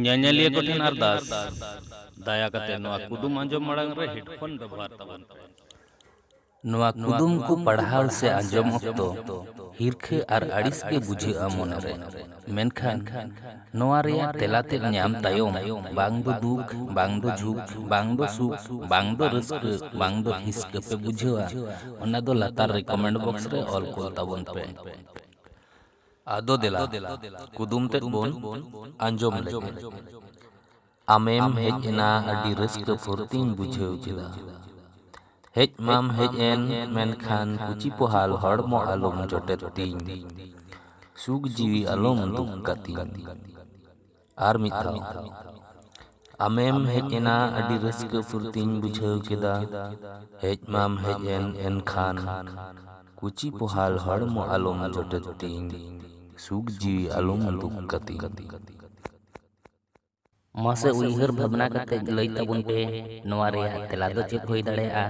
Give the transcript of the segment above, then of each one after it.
ᱧᱮᱧᱮᱞᱤᱭᱟᱹ ᱠᱚᱴᱷᱮᱱ ᱟᱨᱫᱟᱥ ᱫᱟᱭᱟ ᱠᱟᱛᱮ ᱱᱚᱣᱟ ᱠᱩᱫᱩᱢ ᱟᱸᱡᱚᱢ ᱢᱟᱲᱟᱝ ᱨᱮ ᱦᱮᱰᱯᱷᱳᱱ ᱵᱮᱵᱚᱦᱟᱨ ᱛᱟᱵᱚᱱ ᱯᱮ ᱱᱚᱣᱟ ᱠᱩᱫᱩᱢ ᱠᱚ ᱯᱟᱲᱦᱟᱣ ᱥᱮ ᱟᱸᱡᱚᱢ ᱚᱠᱛᱚ ᱦᱤᱨᱠᱷᱟᱹ ᱟᱨ ᱟᱹᱲᱤᱥ ᱜᱮ ᱵᱩᱡᱷᱟᱹᱜᱼᱟ ᱢᱚᱱᱮᱨᱮ ᱢᱮᱱᱠᱷᱟᱱ ᱱᱚᱣᱟ ᱨᱮᱭᱟᱜ ᱛᱮᱞᱟ ᱛᱮᱫ ᱧᱟᱢ ᱛᱟᱭᱚᱢ ᱵᱟᱝ ᱫᱚ ᱫᱩᱠ ᱵᱟᱝ ᱫᱚ ᱡᱷᱩᱠ ᱵᱟᱝ ᱫᱚ ᱥᱩᱠ ᱵᱟᱝ ᱫᱚ ᱨᱟᱹᱥᱠᱟᱹ ᱵᱟᱝ ᱫᱚ ᱦᱤᱥᱠᱟᱹ ᱯᱮ ᱵᱩᱡᱷᱟᱹᱣᱟ ᱚᱱᱟ ᱫᱚ ᱞᱟᱛᱟᱨ ᱨᱮ ᱠᱚᱢᱮᱱᱴ ᱵᱚᱠᱥ ᱨᱮ ᱚᱞ ᱠᱩᱞ ᱛᱟᱵᱚᱱ ᱯᱮ ᱟᱫᱚ ᱫᱮᱞᱟ ᱠᱩᱫᱩᱢ ᱛᱮᱫ ᱵᱚᱱ ᱟᱸᱡᱚᱢ ᱞᱮᱜᱮ ᱟᱢᱮᱢ ᱦᱮᱡ ᱮᱱᱟ ᱟᱹᱰᱤ ᱨᱟᱹᱥᱠᱟᱹ ᱯᱷᱩᱨᱛᱤᱧ ᱵᱩᱡᱷᱟᱹᱣ ᱠᱮᱫᱟ ᱦᱮᱡ ᱢᱟᱢ ᱦᱮᱡ ᱮᱱ ᱢᱮᱱᱠᱷᱟᱱ ᱠᱩᱪᱤ ᱯᱚᱦᱟᱞ ᱦᱚᱲᱢᱚ ᱟᱞᱚᱢ ᱡᱚᱴᱮᱫ ᱛᱤᱧ ᱥᱩᱠ ᱡᱤᱣᱤ ᱟᱞᱚᱢ ᱫᱩᱠ ᱠᱟᱛᱤᱧ ᱟᱨ ᱢᱤᱫ ᱫᱷᱟᱣ ᱟᱢᱮᱢ ᱦᱮᱡ ᱮᱱᱟ ᱟᱹᱰᱤ ᱨᱟᱹᱥᱠᱟᱹ ᱯᱷᱩᱨᱛᱤᱧ ᱵᱩᱡᱷᱟᱹᱣ ᱠᱮᱫᱟ ᱦᱮᱡ ᱢᱟᱢ ᱦᱮᱡ ᱮᱱ ᱮᱱᱠᱷᱟᱱ ᱠᱩᱪᱤ ᱯᱚᱦᱟᱞ ᱦᱚᱲᱢᱚ ᱟᱞᱚᱢ ᱡᱚᱴᱮᱫ ᱛᱤᱧ ᱥᱩᱠ ᱡᱤᱣᱤ ᱟᱞᱚᱢ ᱫᱩᱠ ᱠᱟᱹᱛᱤᱧ᱾ ᱢᱟᱥᱮ ᱩᱭᱦᱟᱹᱨ ᱵᱷᱟᱵᱽᱱᱟ ᱠᱟᱛᱮ ᱞᱟᱹᱭ ᱛᱟᱵᱚᱱ ᱯᱮ ᱱᱚᱣᱟ ᱨᱮᱭᱟᱜ ᱛᱮᱞᱟ ᱫᱚ ᱪᱮᱫ ᱦᱩᱭ ᱫᱟᱲᱮᱭᱟᱜᱼᱟ?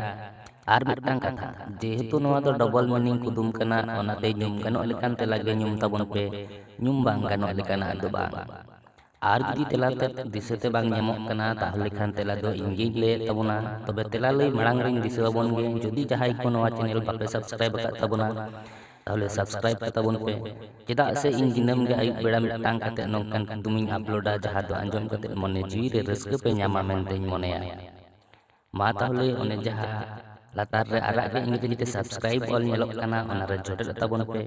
ᱟᱨ ᱢᱤᱫᱴᱟᱝ ᱠᱟᱛᱷᱟ ᱡᱮᱦᱮᱛᱩ ᱱᱚᱣᱟ ᱫᱚ ᱰᱚᱵᱚᱞ ᱢᱤᱱᱤᱝ ᱠᱩᱫᱩᱢ ᱠᱟᱱᱟ ᱚᱱᱟᱛᱮ ᱧᱩᱢ ᱜᱟᱱᱚᱜ ᱞᱮᱠᱟᱱ ᱛᱮᱞᱟ ᱜᱮ ᱧᱩᱢ ᱛᱟᱵᱚᱱ ᱯᱮ ᱧᱩᱢ ᱵᱟᱝ ᱜᱟᱱᱚᱜ ᱞᱮᱠᱟᱱᱟᱜ ᱫᱚ ᱵᱟᱝ ᱟᱨ ᱡᱩᱫᱤ ᱛᱮᱞᱟ ᱛᱮᱫ ᱫᱤᱥᱟᱹᱛᱮ ᱵᱟᱝ ᱧᱟᱢᱚᱜ ᱠᱟᱱᱟ ᱛᱟᱦᱚᱞᱮ ᱠᱷᱟᱱ ᱛᱮᱞᱟ ᱫᱚ ᱤᱧ ᱜᱤᱧ ᱞᱟᱹᱭᱮᱫ ᱛᱟᱵᱚᱱᱟ ᱛᱚᱵᱮ ᱛᱮᱞᱟ ᱞᱟᱹᱭ ᱢᱟᱲᱟᱝ ᱨᱤᱧ ᱫᱤᱥᱟᱹ ᱟᱵᱚᱱ ᱜᱮ ᱡᱩᱫᱤ ᱡᱟᱦᱟᱸᱭ ᱠᱚ ᱱᱚᱣᱟ ᱪᱮᱱᱮᱞ ᱵᱟᱯᱮ ᱥᱟᱵᱥᱠᱨᱟᱭᱤᱵ ᱟᱠᱟᱫ ᱛᱟᱵᱚᱱᱟ ᱛᱟᱦᱚᱞᱮ ᱥᱟᱵᱥᱠᱨᱟᱭᱤᱵ ᱠᱟᱛᱟ ᱵᱚᱱ ᱯᱮ ᱪᱮᱫᱟᱜ ᱥᱮ ᱤᱧ ᱫᱤᱱᱟᱹᱢ ᱜᱮ ᱟᱹᱭᱩᱵ ᱵᱮᱲᱟ ᱢᱤᱫᱴᱟᱝ ᱠᱟᱛᱮ ᱱᱚᱝᱠᱟᱱ ᱠᱩᱫᱩᱢᱤᱧ ᱟᱯᱞᱳᱰᱟ ᱡᱟᱦᱟᱸ ᱫᱚ ᱟᱸᱡᱚᱢ ᱠᱟᱛᱮ ᱢᱚᱱᱮ ᱡᱤᱣᱤ ᱨᱮ ᱨᱟᱹᱥᱠᱟᱹ ᱯᱮ ᱧᱟᱢᱟ ᱢᱮᱱᱛᱮᱧ ᱢᱚᱱᱮᱭᱟ ᱢᱟ ᱛᱟᱦᱚᱞᱮ ᱚᱱᱮ ᱡᱟᱦᱟᱸ ᱞᱟᱛᱟᱨ ᱨᱮ ᱟᱨᱟᱜ ᱜᱮ ᱤᱝᱨᱮᱡᱤ ᱛᱮ ᱥᱟᱵᱥᱠᱨᱟᱭᱤᱵ ᱚᱞ ᱧᱮᱞᱚᱜ ᱠᱟᱱᱟ ᱚᱱᱟ ᱨᱮ ᱡᱚᱴᱮᱫ ᱛᱟᱵᱚᱱ ᱯᱮ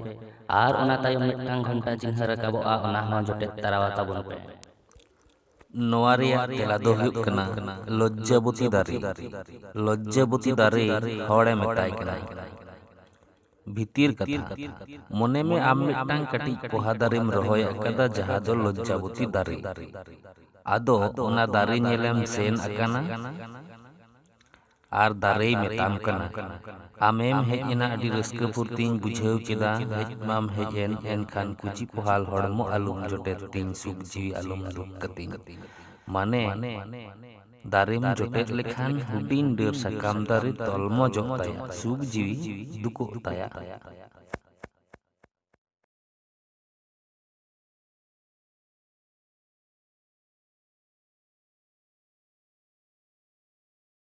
ᱟᱨ ᱚᱱᱟ ᱛᱟᱭᱚᱢ ᱢᱤᱫᱴᱟᱝ ᱜᱷᱚᱱᱴᱟ ᱪᱤᱱᱦᱟᱹ ᱨᱟᱠᱟᱵᱚᱜᱼᱟ ᱚᱱᱟ ᱦᱚᱸ ᱡᱚᱴᱮᱫ ᱛᱟᱨᱟᱣᱟ ᱛᱟᱵᱚᱱ ᱯᱮ ᱱᱚᱣᱟ ᱨᱮᱭᱟᱜ ᱛᱮᱞᱟ ᱫᱚ ᱦᱩᱭᱩᱜ ᱠᱟᱱᱟ ᱞᱚᱡᱡᱟᱵᱚᱛᱤ ᱫᱟᱨᱮ ᱞᱚᱡᱡᱟᱵᱚᱛᱤ ᱫᱟᱨᱮ ᱦᱚᱲᱮ ᱢᱮᱛᱟᱭ ᱠᱟᱱᱟ ᱵᱷᱤᱛᱤᱨ ᱠᱟᱛᱷᱟ, ᱢᱚᱱᱮ ᱢᱮ ᱟᱢ ᱢᱤᱫᱴᱟᱝ ᱠᱟᱹᱴᱤᱡ ᱯᱚᱦᱟ ᱫᱟᱨᱮᱢ ᱨᱚᱦᱚᱭ ᱟᱠᱟᱫᱟ ᱡᱟᱦᱟᱸ ᱫᱚ ᱞᱚᱡᱡᱟᱵᱚᱛᱤ ᱫᱟᱨᱮ᱾ ᱟᱫᱚ ᱚᱱᱟ ᱫᱟᱨᱮ ᱧᱮᱞᱮᱢ ᱥᱮᱱ ᱟᱠᱟᱱᱟ ᱟᱨ ᱫᱟᱨᱮᱭ ᱢᱮᱛᱟᱢ ᱠᱟᱱᱟ, ᱟᱢᱮᱢ ᱦᱮᱡ ᱮᱱᱟ ᱟᱹᱰᱤ ᱨᱟᱹᱥᱠᱟᱹ ᱯᱷᱩᱨᱛᱤᱧ ᱵᱩᱡᱷᱟᱹᱣ ᱠᱮᱫᱟ, ᱦᱮᱡ ᱢᱟᱢ ᱦᱮᱡ ᱮᱱ ᱮᱱᱠᱷᱟᱱ ᱠᱩᱪᱤ ᱯᱚᱦᱟᱞ ᱦᱚᱲᱢᱚ ᱟᱞᱚᱢ ᱡᱚᱴᱮᱫ ᱛᱤᱧ ᱥᱩᱠ ᱡᱤᱣᱤ ᱟᱞᱚᱢ ᱫᱩᱠ ᱠᱟᱹᱛᱤᱧ᱾ ᱢᱟᱱᱮ᱾ ᱫᱟᱨᱮᱢ ᱡᱚᱴᱮᱫ ᱞᱮᱠᱷᱟᱱ ᱦᱩᱰᱤᱧ ᱰᱟᱹᱨ ᱥᱟᱠᱟᱢ ᱫᱟᱨᱮ ᱛᱚᱞᱢᱚᱡᱚᱜ ᱛᱟᱭᱟ, ᱥᱩᱠ ᱡᱤᱣᱤ ᱫᱩᱠᱚᱜ ᱛᱟᱭᱟ᱾